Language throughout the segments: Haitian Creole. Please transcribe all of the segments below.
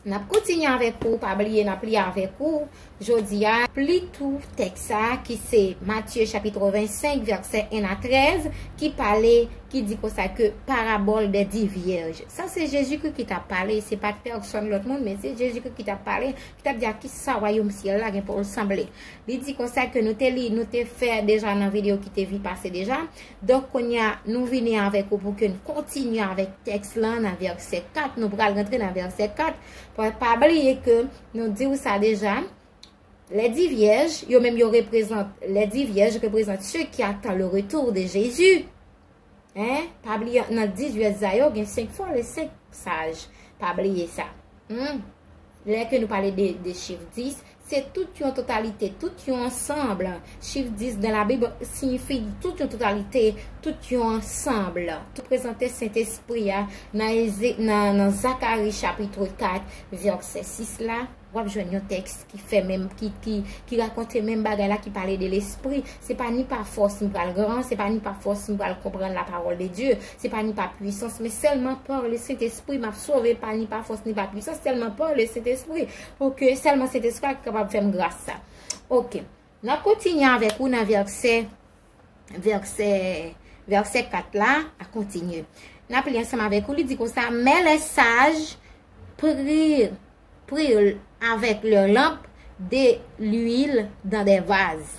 Nap kontinye avèk ou, pa bliye nap li avèk ou jodi a. Li tou tèks sa a ki se Matye chapitre 25 vèsè 1 a 13 ki pale, ki di konsa ke parabòl dè di vyèj. Sa se Jezikri ki tap pale, se pat pèsòn lòt moun, men se Jezikri ki tap pale, ki tap di a kisa wayòm syèl la gen pou l sanble. Li di konsa ke nou te li, nou te fè deja nan videyo ki te vi pase deja. Donk kounye a, nou vini avèk ou pou ke n kontinye avèk tèks lan nan vèsè 4. Nou pral rantre nan vèsè 4. Pa bliye ke nou di ou sa deja, lèdi vyèj, yo menm yo reprezant, lèdi vyèj reprezant se ki atan le retou de Jezi. Pa bliye, nan 10 vyèj sa yo, gen 5 fò le 5 saj. Pa bliye sa. Humm. Lè ke nou pale de chif 10, se tout yon totalite, tout yon ansanb. Chif 10 dan la Bib siyifi tout yon totalite, tout yon ansanb. Tout prezante Sentespri a nan Zakari chapitre 4 vèsè 6 la, wap jwenn yon tèks ki fè menm, ki rakonte menm bagay la, ki pale de Lespri. Se pa ni pa fòs nou pral gran, se pa ni pa fòs nou pral konprann la pawòl de Dye. Se pa ni pa pwisans, men sèlman par le Sentespri m ap sove, pa ni pa fòs ni pa pwisans, sèlman par le Sentespri, pou ke sèlman Sentespri a ki kapab fè m gras sa. Ok. N ap kontinye avèk ou nan vèsè, vèsè, vèsè 4 la, a kontinye. N ap li ansanm avèk ou, li di konsa, Men lè saj pri, pri avèk lè lanp de luil dan de vaz.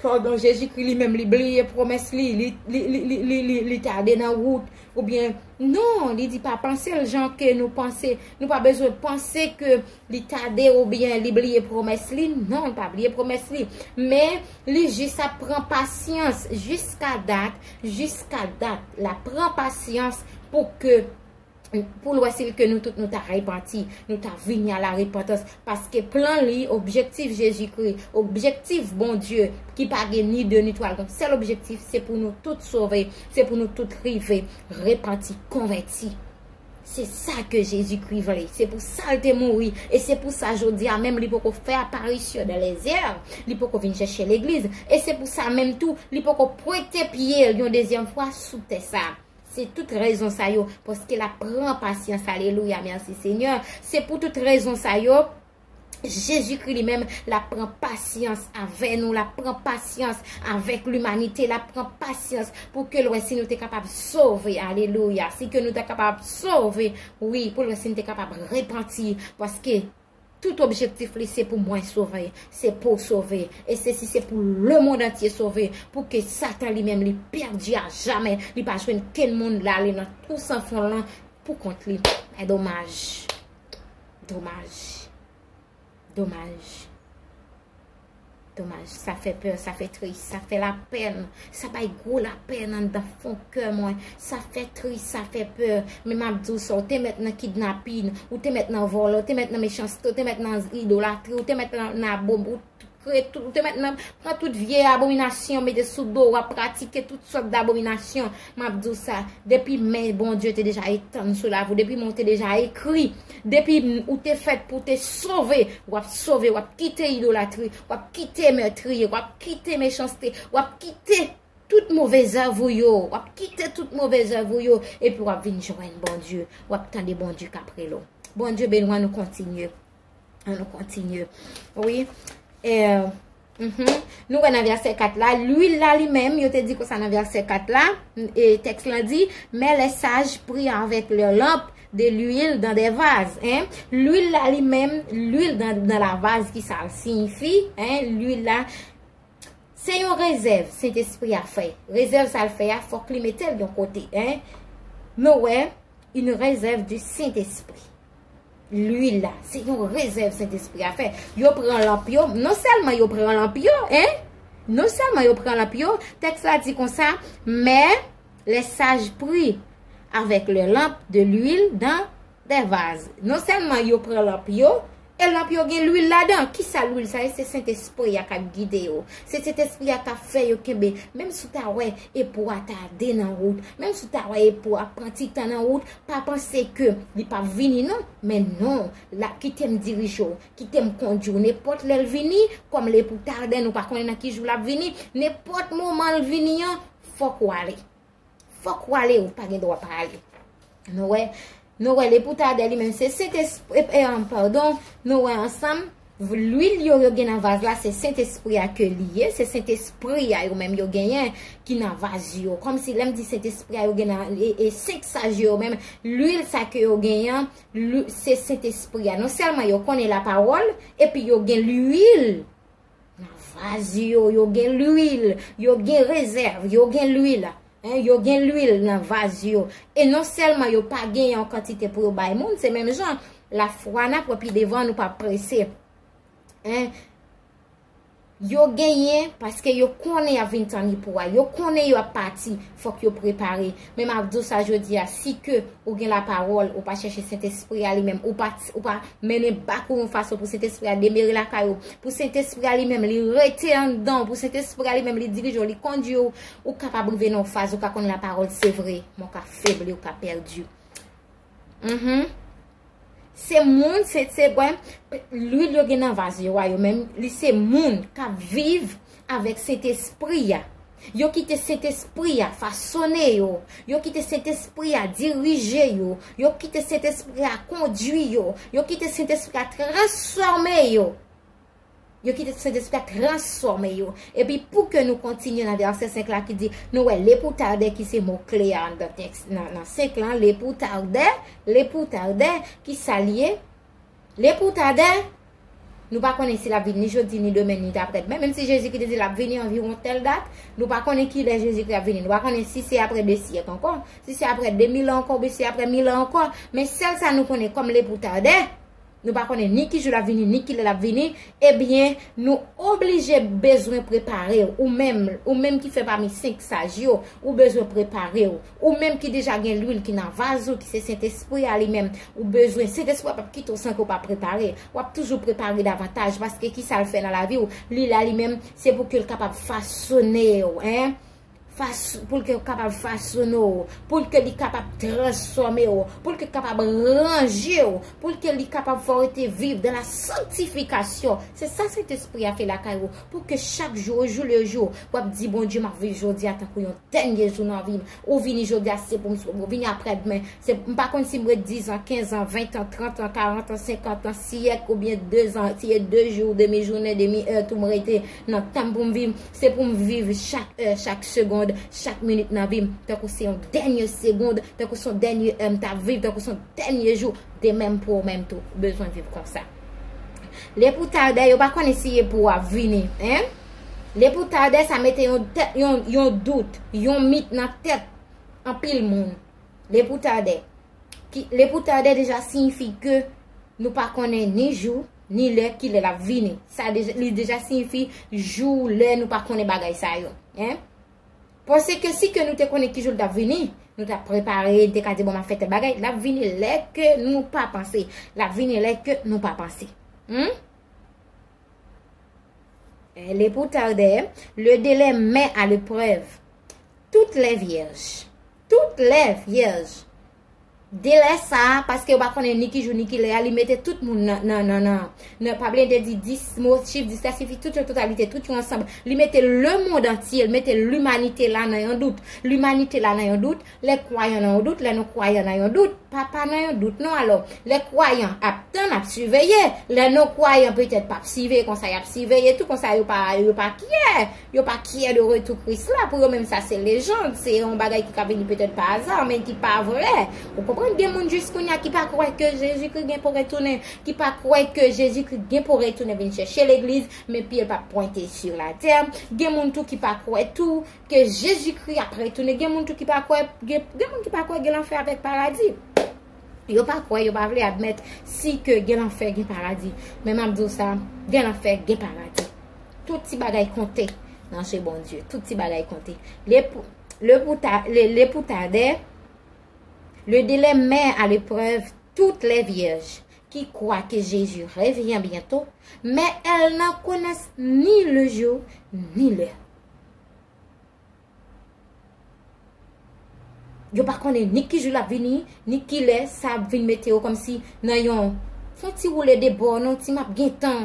Pardon Jezikri li menm li bliye pwomès li, li tade nan wout, ou byen, non, li di pa panse l jan ke nou panse, nou pa bezwen panse ke li tade ou byen li bliye pwomès li, non, li pa bliye pwomès li, men, li jis ap pran pasyans, jiska dat, jiska dat, la pran pasyans pou ke. pou l wè si l ke nou tout nou ta repanti, nou ta vini a la repantans, paske plan li, objektif Jezikri, objektif Bondye ki pa gen ni de ni twa, l gen yon sèl objektif, se pou nou tout sove, se pou nou tout rive repanti, konvèti. Se sa ke Jezikri vle, se pou sa l te mouri, e se pou sa jodi a menm li poko fè aparisyon dan lèzè, li poko vin chèche legliz, e se pou sa menm tou li poko pwente pye l yon dezyèm fwa sou tè sa. Se tout rezon sa yo, paske l ap pran pasyans, alelouya, mèsi senyè, se pou tout rezon sa yo, Jezikri li menm, l ap pran pasyans avè nou, l ap pran pasyans avèk limanite, l ap pran pasyans pou ke l wè si nou te kapab sove, alelouya, si ke nou te kapab sove, wi, pou l wè si nou te kapab repanti, paske. Tout objektif li se pou mwen sove, se pouw sove, e se si se pou le mond antye sove, pou ke satan li menm li pèdi a jamè, li pa jwenn kenn moun lale nan twou san fon lan pou kont li. E domaj. Domaj. Domaj. Domaj, sa fè pè, sa fè tris, sa fè la pèn, sa bay gwo la pèn an dan fon kè mwen, sa fè tris, sa fè pè, men map di w sa, w te mèt nan kidnapin, w te mèt nan vòlè, w te mèt nan mechanste, w te mèt nan idolatri, w te mèt nan abom, w te mèt nan pran tout vye abominasyon mete sou do w, wap pratike tout sòt d'abominasyon. Map di w sa, depi men Bondye te deja etann sou lavi w, depi men w te deja ekri, depi ou te fèt pou te sove, wap sove, wap kite idolatri, wap kite metriye, wap kite mechanste, wap kite tout move zèv ou yo, wap kite tout move zèv ou yo, epi wap vin jwenn Bondye, wap tande Bondye kap rele w. Bondye benwa nou kontinye. An nou kontinye. Oui. E, mh, nou wè nan verse 4 la, l'huile la li menm, yo te di konsa nan verse 4 la, e, teks la di, men le saj pri avek le lamp de l'huile dan de vaz, hein. L'huile la li menm, l'huile dan la vaz ki sa signifi, hein, l'huile la, se yon rezèv, se te espri a fè. Rezèv sa l'fè a, fok li metel yon kote, hein. Nou wè, une rezèv du sint espri. Lwi la, se yon rezèv Sentespri a fè. Yo pran lanp yo, non sèlman yo pran lanp yo, en, non sèlman yo pran lanp yo, tèks la di kon sa, men, lè saj pri, avèk lè lanp de lwil dan dè vaz. Non sèlman yo pran lanp yo, e lanp yo gen lwil la dan. Ki sa lwil sa ye? Se Sentespri a kap gide yo. Se Sentespri a kap fè yo kenbe. Menm si w ta wè epou a ta de nan wout, menm si w ta wè epou a pran ti tan nan wout, Pa panse ke li pap vini non, men non, lap kite m dirije w, kite m kondui w, nenpòt lè l vini, kòm l e pou ta den nou pa konnen nan ki jou lap vini, nenpòt moman l vini an, fòk w ale. Fòk w ale, ou pa gen dwa pa ale. Nou wè, nou wè l e pou ta den li menm se sentespri, pardon, nou wè ansanm. Lwil yo yo gen nan vaz la se sentespri a ke li ye, se sentespri a yo menm yo genyen ki nan vaz yo. Kòm si lèm di sentespri a yo gen nan, e senk saj yo yo menm, lwil sa ke yo genyen an, se sentespri a. Non sèlman yo konnen la pawòl, epi yo gen lwil nan vaz yo, yo gen lwil, yo gen rezèv, yo gen lwil. 1 yo gen lwil nan vaz yo e non sèlman yo pa gen yon kantite pou yo bay moun se menm jan lafwa nap wè pi devan nou pa prese 1 yo genyen paske yo konnen ap vin tann epou a yo konnen yo ap pati fòk yo prepare men map di w sa jodi a si ke ou gen la pawòl ou pa chèche sentespri a li menm ou pa mennen bak ou yon fason pou sentespri a demere lakay ou pou sentespri a li menm li rete anndan ou pou sentespri a li menm li dirije ou li kondwi ou Ou kapab rive nan yon faz ou ka konn la parole se vre, men ou ka febli, ou ka perdu. Uhmm. Se moun, se se gwen, l'huile yo gen nan vase yo a yo menm, li se moun kap viv avèk Sentespri a. Yo kite Sentespri a fasone yo, yo kite Sentespri a dirije yo, yo kite Sentespri a kondui yo, yo kite Sentespri a transfòme yo. Yo kite Sentespri a transfòme yo. Epi pou ke nou kontinye nan vèsè 5 la ki di, nou wè le pou tardè ki se mo kle a anndan tèks nan 5 lan, le pou tardè, le pou tardè, ki sa li ye? Le pou tardè, nou pa konnen si l ap vini ni jodi, ni demen, ni dapre demen, menm si Jezikri te di l ap vini anviwon tèl dat, nou pa konnen ki lè Jezikri ap vini, nou pa konnen si se apre 2 syèk ankò, si se apre 2000 an ankò oubyen si se apre 1000 an ankò, men sèl sa nou konnen kòm le pou tardè, Nou pa konnen ni ki jou lap vini, ni ki lè lap vini, ebyen nou oblije bezwen prepare w, ou menm, ou menm ki fè pami senk saj yo, ou bezwen prepare w, ou menm ki deja gen lwil ki nan vaz ou ki se Sentespri a li menm, ou bezwen, Sentespri a pap kite w san ke w pa prepare, wap toujou prepare davantaj, paske ki sa l fè nan lavi w, li la li menm, se pou ke l kapab fasone w, hein. pou l kapab fasone w, pou l li kapab transfòme w, pou l kapab ranje w, pou l li kapab fè w rete viv dan la sanktifikasyon. Se sa Sentespri a fè lakay ou, pou ke chak jou, o jou le jou, w ap di, Bondye, m ap viv jodi a tankou yon dènye jou nan vi m. Ou vini jodi a, se pou m sot. Ou vini aprè dmen, se pou m. M pa konn si m ret dizan, kenzan, ventan, trantan, karantan, senkantan, siyèk oubyen dezan, si e de jou, demi jounen, demi è tou m rete nan tan m pou m viv. Se pou m viv chak è, chak segond, chak minit nan vi m, tankou se yon dènye segond, tankou se yon dènye è m t ap viv, tankou se yon dènye jou, de menm pou ou menm tou, ou bezwen viv konsa. Lè pou tardè, yo pa konnen si e pou ou ap vini, hein? Lè pou tardè, sa mete yon tèt, yon dout, yon mit nan tèt anpil moun. Lè pou tardè. Lè pou tardè deja siyifi ke nou pa konnen ni jou, ni lè ki lè lap vini. Sa li deja siyifi jou lè nou pa konnen bagay sa yo. Pwese ke si ke nou te konnen ki jou lap vini, nou tap prepare, nou te ka di bon map fè tèl bagay, lap vini lè ke nou pa panse. Lap vini lè ke nou pa panse. Elle est pour tarder, le délai met à l'épreuve toutes les vierges. Toutes les vierges. Delè sa a, paske yo pa konnen ni ki jou ni ki lè a, li mete tout moun nan, pa bliye m te di 10 mo, chif 10 la sifi tout yon totalite, tout yon ansanb. Li mete lemond antye, li mete limanite la nan yon dout. Limanite la nan yon dout, lè kwayan nan yon dout, lè nou kwayan nan yon dout, pa pa nan yon dout non alò. Lè kwayan ap tann, ap siveye, lè nou kwayan petèt pa ap siveye konsa y ap siveye tou konsa yo pa kyè. Yo pa kyè de retou Kris la, pou yo menm sa se lejand, se yon bagay ki ka vini petèt pa aza, men ki pa vrè. Ou konprann gen moun jis kounya ki pa kwè ke Jezikri gen pou retounen, ki pa kwè ke Jezikri gen pou retounen vin chèche legliz, men pye l pa p pwente sur la tè. Gen moun tou ki pa kwè tou ke Jezikri ap retounen, gen moun tou ki pa kwè, gen moun ki pa kwè gen lanfè avèk paradi. Yo pa kwè, yo pa vle admèt si ke gen lanfè, gen paradi. Men m ap di w sa, gen lanfè, gen paradi. Tout ti bagay konte nan je Bondye. Tout ti bagay konte. Le pou ta, le pou ta dè, le de lè mè a le prèv, tout lè vyèj ki kwa ke Jezi revyen byento, men el nan konès ni le jou, ni lè. Yo pa konnen ni ki jou l ap vini, ni ki lè sa ap vin mete yo kòm si nan yon fon ti woule de bò, nan yon ti m ap gen tan.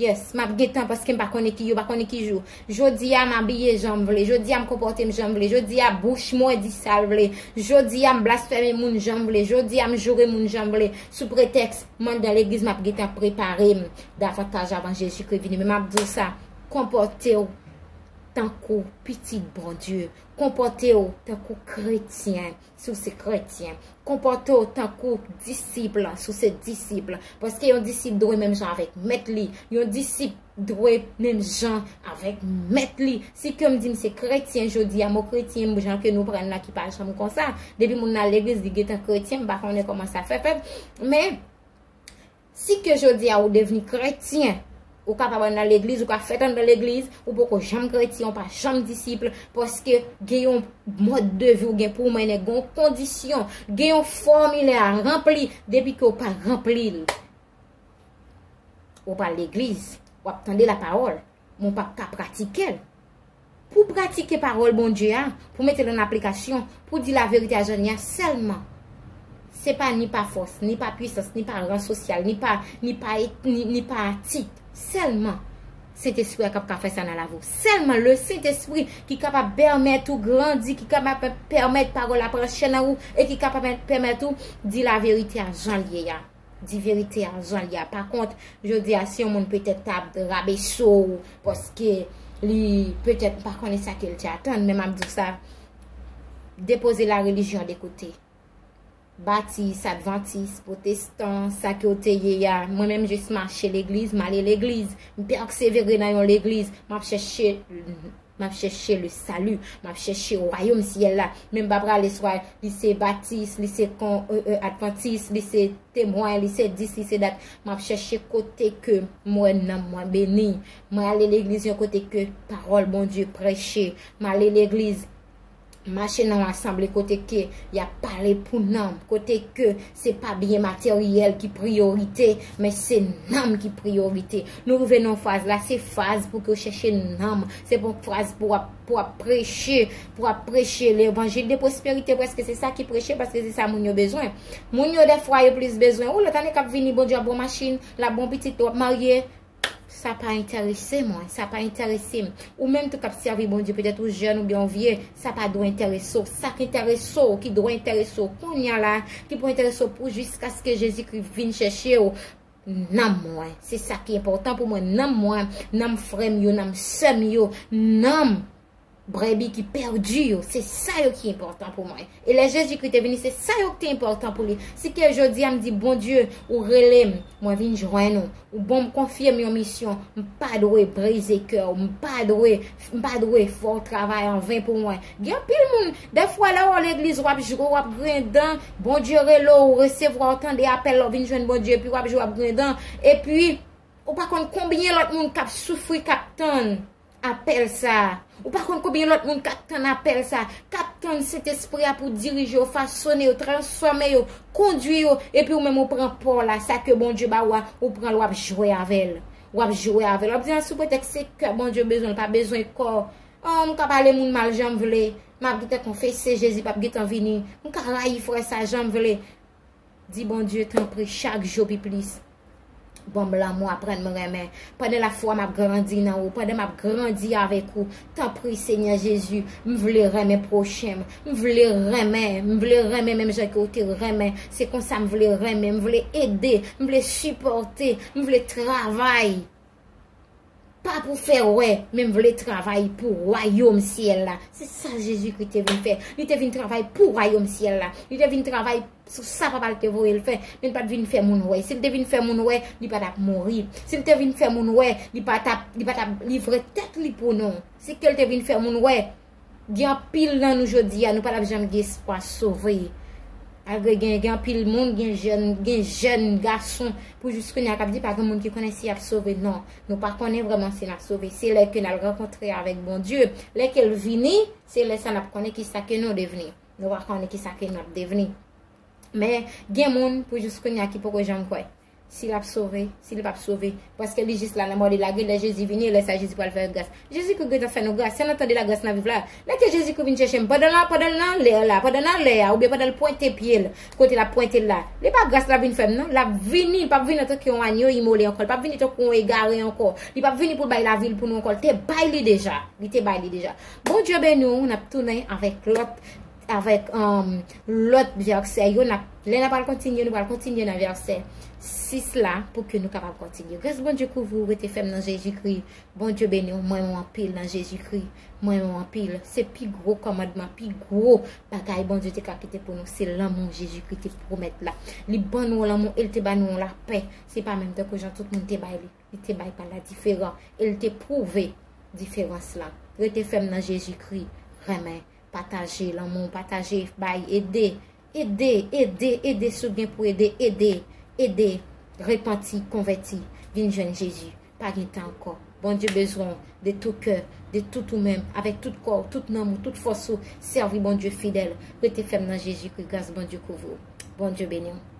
Yes, m ap gen tan paske m pa konnen ki yo pa konnen ki jou. Jodi a m abiye jan m vle, jodi a m konpòte m jan m vle, jodi a bouch mwen di sa l vle, jodi a m blasfeme moun jan m vle, jodi a m joure moun jan m vle sou pretèks m anndan legliz m ap gen tan prepare m davantaj avan Jezikri vini. Men m ap di w sa, konpòte w tankou pitit Bondye, konpòte w tankou kretyen si w se kretyen, konpòte w tankou disip si w se disip, paske yon disip dwe menm jan avèk mèt li, yon disip dwe menm jan avèk mèt li. Si ke m di m se kretyen jodi a, mo kretyen m jan ke nou pran l la ki pa janm konsa, depi moun nan legliz li gentan kretyen, m pa konnen kòman sa fè fèt, men, Si ke jodi a ou devni kretyen, ou kapab andan legliz, ou ka fèt andan legliz, ou poko janm kretyen, ou pa janm disip, paske gen yon mòd de vi ou gen pou mennen, gen yon kondisyon, gen yon fòmilè a ranpli, depi ke ou pa ranpli l, ou pa legliz, wap tande la pawòl, men ou pap ka pratike l. Pou pratike pawòl Bondye a, pou mete l an aplikasyon, pou di laverite a jan l ye a sèlman. Se pa ni pa fòs, ni pa pwisans, ni pa ran sosyal, ni pa, ni pa etni, ni pa tit. Sèlman Sentespri a k ap ka fè sa nan lavi w. Sèlman Lesentespri ki kapab pèmèt ou grandi, ki kapab pèmèt pawòl la pran chè nan ou e ki kapab pèmèt ou di laverite a jan l ye a. Di verite a jan li a. Pa kont, jodi a si yon moun petèt ta rabeso w paske li petèt pa konnen sa ke li te atann, men m ap di w sa, depoze la relijyon de kote. Batis, advantis, potestan, sa ke w te ye a, mwen menm jis mache legliz, m ale legliz, m pèksevere nan yon legliz, m ap chèche M ap chèche le salut, m ap chèche wayom syèl la, men m pa prale swa li se batis, li se kon ee advantis, li se temwen, li se dis, li se dat, m ap chèche kote ke m wè nanm mwen beni, m ale legliz yon kote ke pawòl Bondye prèche, m ale legliz. Mache nan yon asanble kote ke y ap pale pou nanm, kote ke se pa byen materyèl ki priyorite, men se nanm ki priyorite. Nou rive nan yon faz la, se faz pou ke w chèche nanm, se pa yon faz pou w ap preche, pou w ap preche levanjil de pwosperite prèske se sa ki preche, paske se sa moun yo bezwen. Moun yo dèfwa yo plis bezwen, ou lòt ane k ap vini Bondye ap ba w machin, l ap ba w pitit, w ap marye. Sa pa entèrese mwen, sa pa entèrese m. Ou menm tou k ap sèvi Bondye, petèt ou jèn oubyen ou vye, sa pa dwe entèrese w. Sa ki entèrese w, ki dwe entèrese w kounya la, ki pou entèrese w pou jiskaske Jezikri vin chèche w, nanm mwen. Se sa ki enpòtan pou mwen, nanm mwen, nanm frè m yo, nanm sè m yo, nanm. Brebi ki pèdi yo, se sa yo ki enpòtan pou mwen. E lè Jezikri te vini, se sa yo ki te enpòtan pou li. Si ke jodi a m di, Bondye, ou rele m, mwen vin jwenn ou. Ou ban m, konfye m yon misyon. M pa dwe brize kè ou. M pa dwe, m pa dwe fè w travay an ven pou mwen. Gen anpil moun, dèfwa lè w al legliz, w ap jwe, w ap griyen dan. Bondye rele w, ou resevwa, ou tande apèl la, ou vin jwenn Bondye. Epi w ap jwe, w ap griyen dan. Epi, ou pa konn konbyen lòt moun k ap soufri, k ap tann. Apèl sa a. Ou pa konn konbyen lòt moun k ap tann apèl sa a, k ap tann Sentespri a pou dirije yo, fasone yo, transfòme yo, kondui yo, epi ou menm ou pran pa w la, sa ke Bondye ba ou a, ou pran l w ap jwe avè l. W ap jwe avè l. W ap di a sou pretèks se kè Bondye bezwen, l pa bezwen kò. An, m ka pale moun mal jan m vle, m ap gentan konfese Jezi p ap gentan vini, m ka rayi frè sa a jan m vle. Di Bondye tanpri chak jou pi plis banm lanmou aprann m renmen pandan lafwa m ap grandi nan ou pandan m ap grandi avèk ou tanpri Senyè Jezi m vle renmen pwochen m m vle renmen m vle renmen menm jan ke ou te renmen se konsa m vle renmen m vle ede m vle sipòte m vle travay Pa pou fè wè, men m vle travay pou wayom syèl la. Se sa Jezikri te vin fè. Li te vin travay pou wayom syèl la. Li te vin travay sou sa Papa l te voye l fè. Men l pa t vin fè moun wè. Si l te vin fè moun wè, li pa t ap mouri. Si l te vin fè moun wè, li pa t ap livre tèt li pou nou. Se ke l te vin fè moun wè. Gen anpil nan nou jodi a nou pa tap janm gen espwa sove. Malgre gen gen anpil moun, gen jèn, gen jèn gason pou jis kounye a kap di pa gen moun ki konnen si yap sove non. Nou pa konnen vreman si nap sove. Se lè ke nal rankontre avèk Bondye. Lè kel vini, se lè sa nap konnen kisa ke nou devni. Nou pa konnen kisa ke nap devni. Men gen moun pou jis kounye a ki poko janm kwè. Si l ap sove, si li p ap sove. Paske li jis la nan mò li lage. Lè Jezi vini, lè sa Jezi pral fè l gras. Jezikri gentan fè nou gras. Se nan tan de lagras n ap viv la a. Lè ke Jezikri vin chèche m, pandan l pandan l nan lè la, pandan nan lè a oubyen pandan l pwente pye l kote l ap pwente l la, li pa gras l ap vin fè m non. L ap vini, l p ap vini antanke yon anyo imole ankò. L p ap vini tankou yon egare ankò. Li p ap vini pou l bay lavi l pou nou ankò. L te bay li deja. Li te bay li deja. Bondye beni w. N ap tounen avèk lòt. avèk lòt vèsè yo, lè nan pral kontinye, nou pral kontinye nan vèsè 6 la, pou ke nou kapab kontinye. Gras Bondye kouvri ou, rete fèm nan Jezikri, Bondye beni ou, mwen ou anpil nan Jezikri, mwen ou anpil. Se pi gwo kòmandman, pi gwo bagay Bondye te ka kite pou nou, se lanmou Jezikri te pwomèt la. Li ban nou lanmou, e li te ban nou lapè, se pa menm tankou jan tout moun te bay li. li te bay pa la diferan e li te pwouve diferans la. Rete fèm nan Jezi Kri, renmen, pataje lanmou, pataje, bay, ede, ede, ede, ede si w gen pou ede, ede, ede, repanti, konvèti, vin jwenn Jezi, pa gen tan ankò. Bondye bezwen w de tou kè, de tout ou menm, avèk tout kò w, tout nanm ou, tout fòs ou, sèvi Bondye fidèl, rete fèm nan Jezi Kri, gras Bondye kouvri w. Bondye beni w.